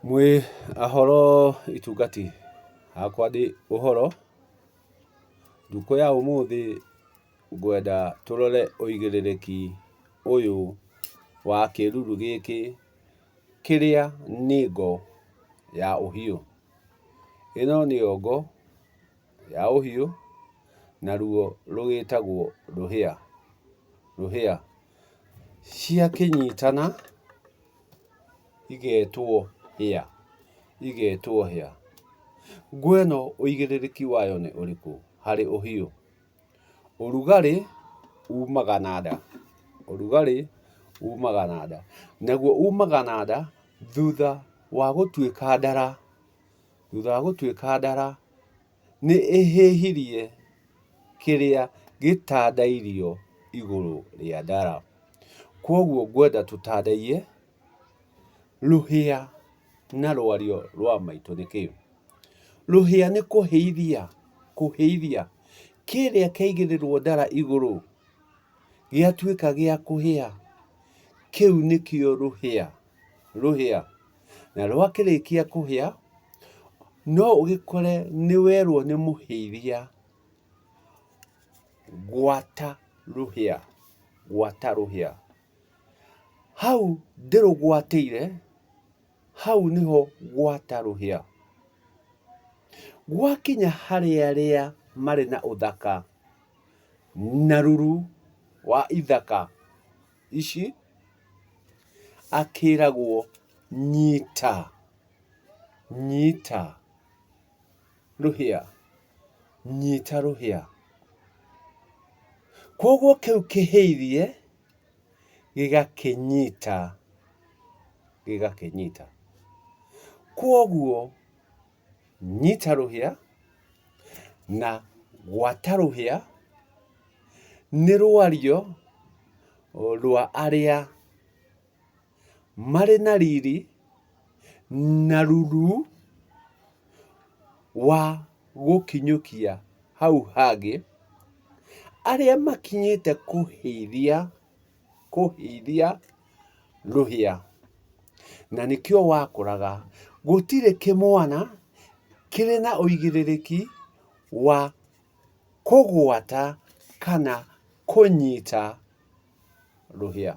Mwĩ ahoro itungati, hakwa ndĩ ũhoro, ndukũ ya ũmũthĩ ngwenda tũrore ũigĩrĩrĩki ũyũ wa kĩruru gĩkĩ kĩrĩa nĩ ngo ya ũhiũ. Ĩno nĩyo ngo ya ũhiũ, naruo rũgĩtagwo rũhĩa, rũhĩa. Ciakĩnyitana igetwo hĩa, igetwo hĩa. Ngũa ĩno ũigĩrĩrĩki wayo nĩ ũrĩkũ harĩ ũhiũ? Ũrugarĩ umaga na nda, ũrugarĩ umaga na nda. Naguo umaga na nda thutha wa gũtuĩka ndara, thutha wa gũtuĩka ndara. nĩ ĩhĩhirie kĩrĩa gĩtandairio igũrũ rĩa ndara. Kwoguo ngwenda tũtandaiyĩ rũhĩa na rwario rwa maitũ nĩ kĩĩ. Rũhĩa nĩ kũhĩithia, kũhĩithia kĩrĩa kĩaigĩrĩrwo ndara igũrũ gĩatuĩka gĩa kũhĩa, kĩu nĩkĩo rũhĩa. rũhĩa, na rwakĩrĩkia kũhĩa, no ũgĩkore nĩ werwo nĩ mũhĩiria, gwata rũhĩa, gwata rũhĩa. Hau ndĩrũgwatĩire, hau nĩho gwata rũhĩa. Gwakinya harĩ arĩa marĩ na ũthaka na ruru wa ithaka. ici, akĩragwo nyita, nyita rũhĩa, nyita rũhĩa. Koguo kĩu kĩhĩirie gĩgakĩnyita, gĩgakĩnyita. Koguo... nyita rũhĩa, na gwata rũhĩa, nĩ rwario rwa arĩa marĩ na riri na ruru wa gũkinyũkia hau hangĩ, arĩa makinyĩte kũhĩithia kũhĩithia rũhĩa, na nĩkĩo wakũraga. Gũtirĩ kĩmwana kĩrĩ na ũigĩrĩrĩki wa kũgwata kana kũnyita rũhĩa.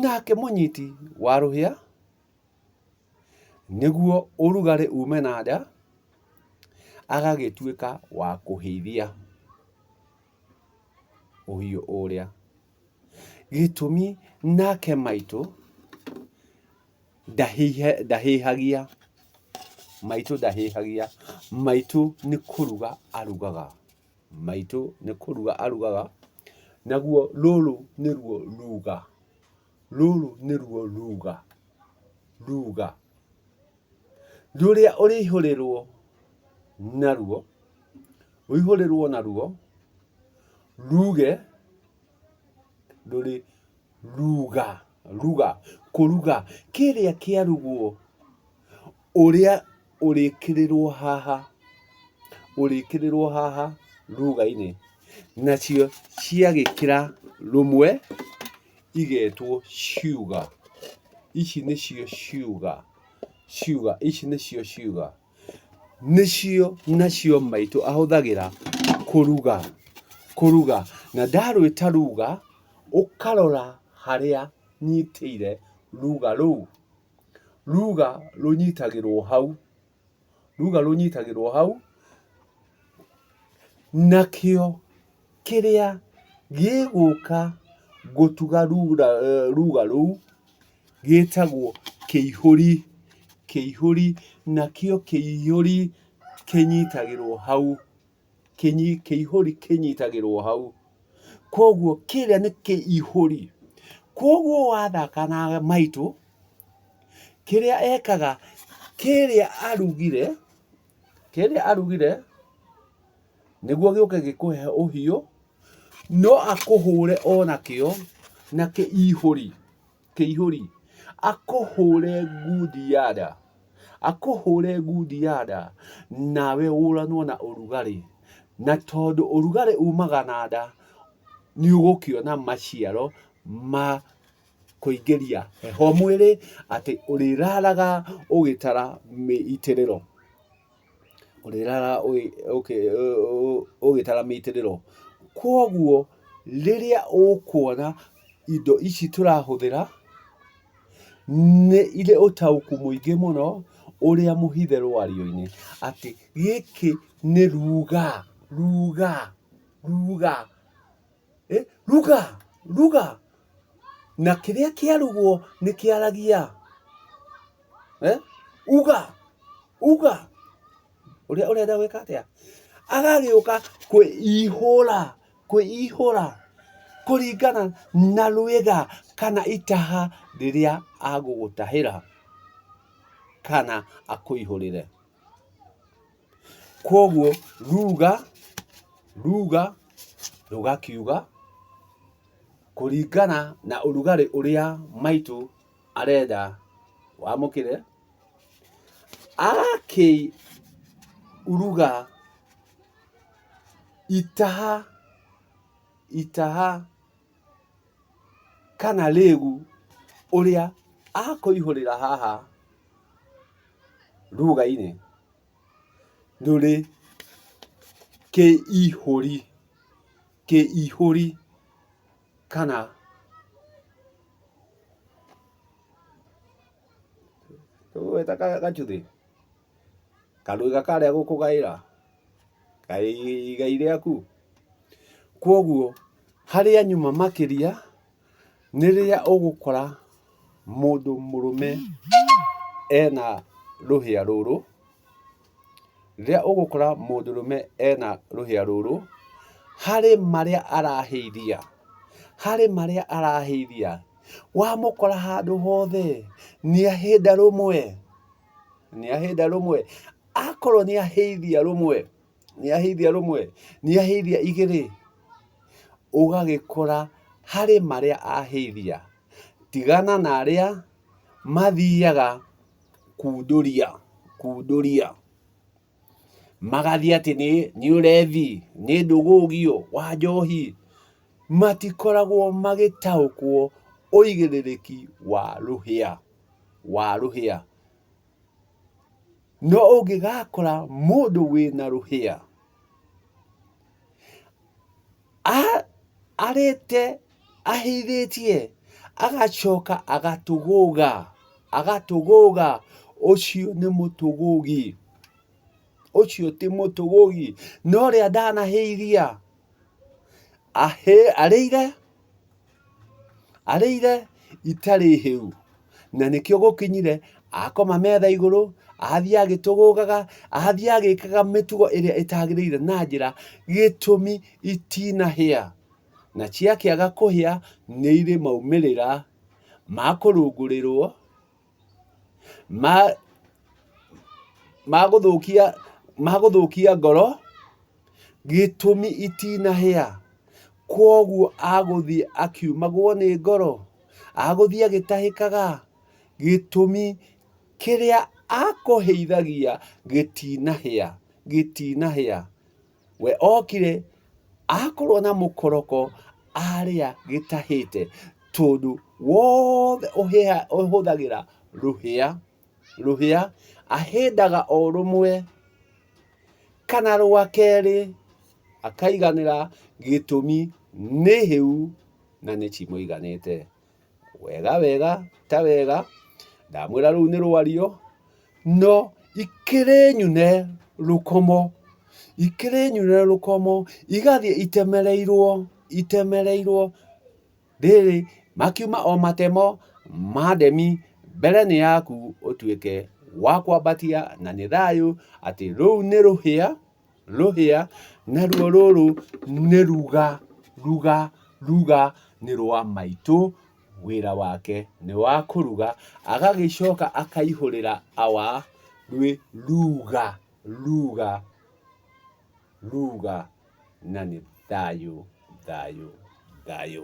Nake mũnyiti wa rũhĩa, nĩguo ũrugarĩ ume na nja, agagĩtuĩka wa kũhĩithia. ũhiũ ũrĩa. Gĩtũmi nake maitũ ndahĩhagia, maitũ ndahĩhagia, maitũ nĩ kũruga arugaga, maitũ nĩ kũruga arugaga, naguo rũrũ nĩruo ruga, rũrũ nĩruo ruga, ruga rũrĩa ũrĩihũrĩrwo naruo. rũihũrĩrwo naruo ruge ndũrĩ ruga ruga kũruga kĩrĩa kĩarugwo ũrĩa ũrĩkĩrĩrwo haha ũrĩkĩrĩrwo haha ruga-inĩ nacio ciagĩkĩra rũmwe igetwo ciuga ici nĩcio ciuga ciuga ici nĩcio ciuga. nĩcio nacio maitũ ahũthagĩra kũruga, kũruga. Na ndarwĩta ruga, ũkarora harĩa nyitĩire ruga rũu. Ruga rũnyitagĩrwo hau, ruga rũnyitagĩrwo hau, nakĩo. kĩrĩa gĩgũka gũtuga ruga rũu gĩtagwo kĩihũri. Kĩihũri nakĩo kĩihũri kĩnyitagĩrwo hau, kĩihũri kĩnyitagĩrwo hau. Koguo kĩrĩa nĩ kĩihũri. Koguo wathaka na maitũ, kĩrĩa ekaga kĩrĩa arugire, kĩrĩa arugire... nĩguo gĩũke gĩkũhe ũhiũ no akũhũre ona kĩo na kĩihũri kĩihũri akũhũre ngundi ya nda akũhũre ngundi ya nda nawe ũranwo na ũrugarĩ na tondũ ũrugarĩ umaga na nda nĩ ũgũkĩona maciaro ma kũingĩria heho mwĩrĩ atĩ ũrĩraraga ũgĩtara mĩitĩrĩro. ũrĩraraa ũgĩtara mĩitĩrĩro. Koguo rĩrĩa ũkuona indo ici tũrahũthĩra nĩ irĩ ũtaũku mũingĩ mũno ũrĩa mũhithe rwario-inĩ atĩ gĩkĩ nĩ ruga, ruga, ruga. Eh, ruga ruga na kĩrĩa kĩarugwo nĩ kĩaragia eh? uga uga ũrĩa ũrenda gwĩka atĩa agagĩũka kwĩihũra kwĩihũra kũringana na rwĩga kana itaha rĩrĩa agũgũtahĩra kana akũihũrĩre Kwoguo ruga, ruga rũgakiuga kũringana na ũrugarĩ ũrĩa maitũ arenda wamũkĩre, agakĩruga itaha, itaha kana rĩgu ũrĩa akũihũrĩra haha ruga-inĩ. rũrĩ kĩihũri, kĩihũri kana gacuthĩ, kanua karĩa gũkũgaĩra, igai rĩaku. Kwoguo harĩa nyuma makĩria Nĩ rĩrĩa ũgũkora mũndũ mũrũme ena rũhĩa rũrũ, rĩrĩa ũgũkora mũndũ mũrũme ena rũhĩa rũrũ, harĩ marĩa arahĩithia, harĩ marĩa arahĩithia, wamũkora handũ hothe nĩ ahĩnda rũmwe, nĩ ahĩnda rũmwe. Akorwo nĩ ahĩithia rũmwe. nĩaheithia rũmwe, nĩaheithia igĩrĩ, ũgagĩkora harĩ marĩa aheithia, tigana na arĩa mathiaga kundũria kundũria, magathiĩ atĩ nĩ ũrebi, nĩ ndũgũgio wa njohi, matikoragwo magĩtaũkwo ũigĩrĩrĩki wa rũhĩa, wa rũhĩa. No ũngĩgakora mũndũ wĩna rũhĩa, arĩte ahĩithĩtie, agacoka agatũgũga, agatũgũga, ũcio nĩ mũtũgũgi. Ũcio ti mũtũgũgi. No ũrĩa ndanahĩithia, arĩire. arĩire itarĩ hĩu na nĩkĩo gũkinyire akoma metha igũrũ athiĩ agĩtũgũgaga athiĩ agĩkaga mĩtugo ĩrĩa ĩtagĩrĩire na njĩra gĩtũmi itinahĩa na ciakĩaga kũhĩa nĩ irĩ maumĩrĩra ma kũrũngũrĩrwo magũthũkia ngoro gĩtũmi itinahĩa. Kwoguo agũthiĩ akiumagwo nĩ ngoro, agũthiĩ agĩtahĩkaga gĩtũmi kĩrĩa akũhĩithagia gĩtinahĩa. We okire akorwo na mũkoroko arĩa gĩtahĩte tondũ wothe ũhũthagĩra rũhĩa, rũhĩa ahĩndaga o rũmwe kana rwa kerĩ akaiganĩra gĩtũmi nĩ hĩu na nĩ cimũiganĩte. wega wega ta wega, ndamwĩra rũu nĩ rwario, no ikĩrĩ nyune rũkomo, ikĩrĩ nyune rũkomo, igathiĩ itemereirwo, itemereirwo, rĩrĩ, makiuma o matemo ma ndemi, mbere nĩ yaku ũtuĩke wa kwambatia, na nĩ thayũ, atĩ rũu nĩ rũhĩa. rũhĩa, naruo rũrũ nĩ ruga, ruga, ruga nĩ rwa maitũ, wĩra wake nĩ wa kũruga, agagĩcoka akaihũrĩra awa rwĩ ruga, ruga, ruga na nĩ thayũ, thayũ, thayũ.